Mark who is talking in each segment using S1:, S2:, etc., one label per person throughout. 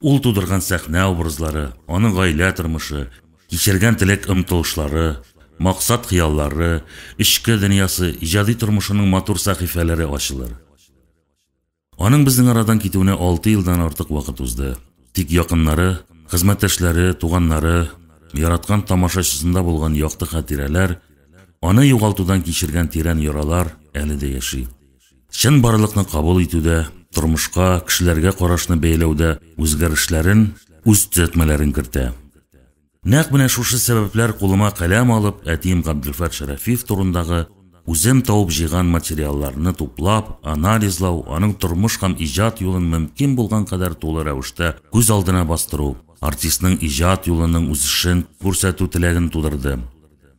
S1: Ул тудырган сәхнә образлары, аның гаилә тормышы, кичергән теләк-омтылышлары, максат-хыяллары, эчке дөньясы, иҗади тормышының матур сәхифәләре ачылыр. Аның безнең арадан китүенә алты елдан артык вакыт узды. Тик якыннары, хезмәттәшләре, туганнары, яраткан тамашачысында булган якты хатирәләр, аны югалтудан кичергән тирән яралар әле дә яши. Чынбарлыкны кабул итүдә, тормышка, кешеләргә карашны бәяләүдә үзгәрешләрен, үз төзәтмәләрен кертә. Нәкъ менә шушы сәбәпләр кулыма каләм алып, әтием Габделфәт Шәрәфиев турындагы үзем табып җыйган материалларны туплап, анализлау, аның тормыш һәм иҗат юлын мөмкин булган кадәр тулы рәвештә күз алдына бастыру, артистның иҗат юлының үсешен күрсәтү теләген тудырды.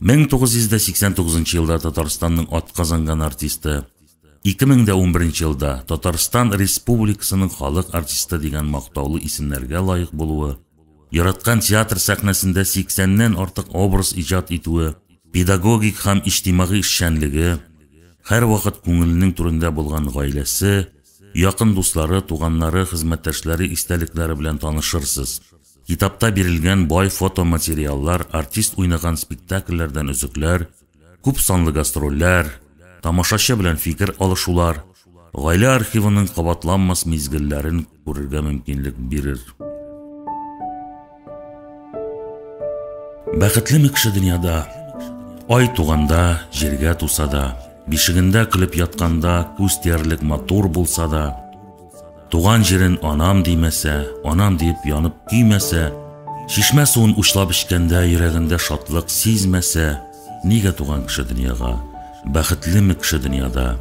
S1: 1989 елда Татарстанның атказанган артисты, 2011 елда Татарстан Республикасының халык артисты дигән мактаулы исемнәргә лаек булуы, яраткан театр сәхнәсендә 80 ннән артык образ иҗат итүе, педагогик һәм иҗтимагый эшчәнлеге, һәрвакыт күңеленең түрендә булган гаиләсе, якын дуслары, туганнары, хезмәттәшләре истәлекләре белән танышырсыз. Китапта бирелгән бай фотоматериаллар артист уйнаган спектакльләрдән өзекләр, күп санлы гастрольләр, тамашачы белән фикер алышулар, гаилә архивының кабатланмас мизгелләрен күрергә мөмкинлек бирер. Бәхетлеме кеше дөньяда? Ай туганда, җиргә туса да, бишегендә көлеп ятканда күз тиярлек матур булса да, Туган җирен анам димәсә, анам диеп янып көймәсә, чишмә суын учлап эчкәндә йөрәгендә шатлык сизмәсә, нигә туган кеше дөньяга? Бәхетлеме кеше дөньяда?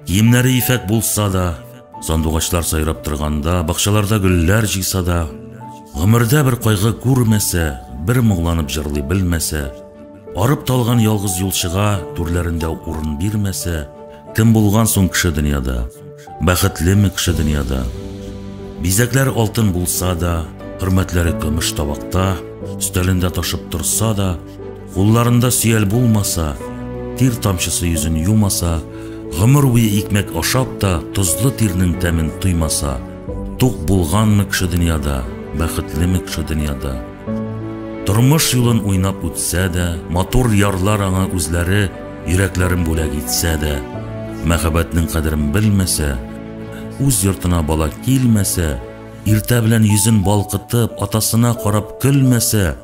S1: Киемнәре ефәк булса да, сандугачлар сайрап торганда, бакчаларда гөлләр җыйса да, гомердә бер кайгы күрмәсә, бер моңланып җырлый белмәсә, Арып талган ялгыз юлчыга түрләрендә урын бирмәсә, кем булган соң кеше дөньяда? Бәхетлеме кеше дөньяда? Бизәкләр алтын булса да, хөрмәтләре көмеш табакта, өстәлендә ташып торса да, кулларында сөял булмаса, тир тамчысы йөзен юмаса, гомер буе икмәк ашап та тозлы тирнең тәмен тоймаса, тук булганмы кеше дөньяда, бәхетлеме кеше дөньяда? Тормыш юлын уйнап үтсә дә, матур ярлар аңа үзләре йөрәкләрен бүләк итсә дә, мәхәббәтнең кадерен белмәсә, үз йортына бала килмәсә, иртә белән йөзен балкытып, атасына карап көлмәсә,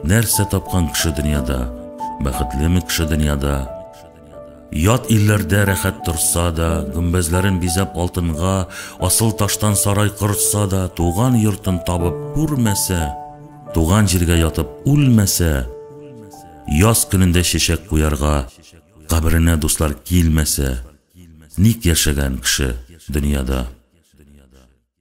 S1: нәрсә тапкан кеше дөньяда? Бәхетлеме кеше дөньяда? Ят илләрдә рәхәт торса да, гөмбәзләрен бизәп алтынга, асыл таштан сарай корытса да, туган йортын табып күрмәсә, туган җиргә ятып үлмәсә, яз көнендә чәчәк куярга, каберенә дуслар килмәсә, ник яшәгән кеше дөньяда?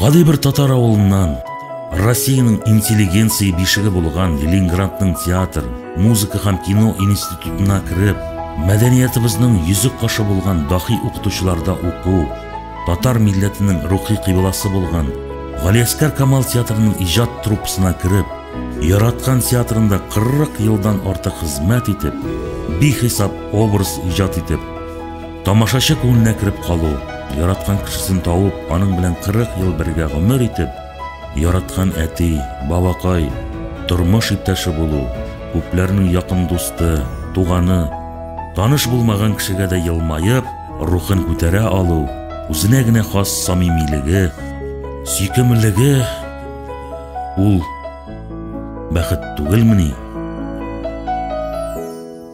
S1: Гади бер татар авылыннан Россиянең интеллигенция бишеге булган Ленинградның театр, музыка һәм кино институтына кереп, мәдәниятыбызның йөзек кашы булган дахи укытучыларда уку, татар милләтенең рухи кыйбласы булган Галиәскәр Камал театрының иҗат труппасына кереп, яраткан театрында 40 елдан артык хезмәт итеп, бихисап образ иҗат итеп, Тамашачы күңеленә кереп калу, яраткан кешесен табып, аның белән 40 ел бергә гомер итеп, яраткан әти, бабакай, тормыш иптәше булу, күпләрнең якын дусты, туганы, таныш булмаган кешегә дә елмаеп, рухын күтәрә алу, үзенә генә хас самимилеге, сөйкемлеге ул бәхет түгелмени?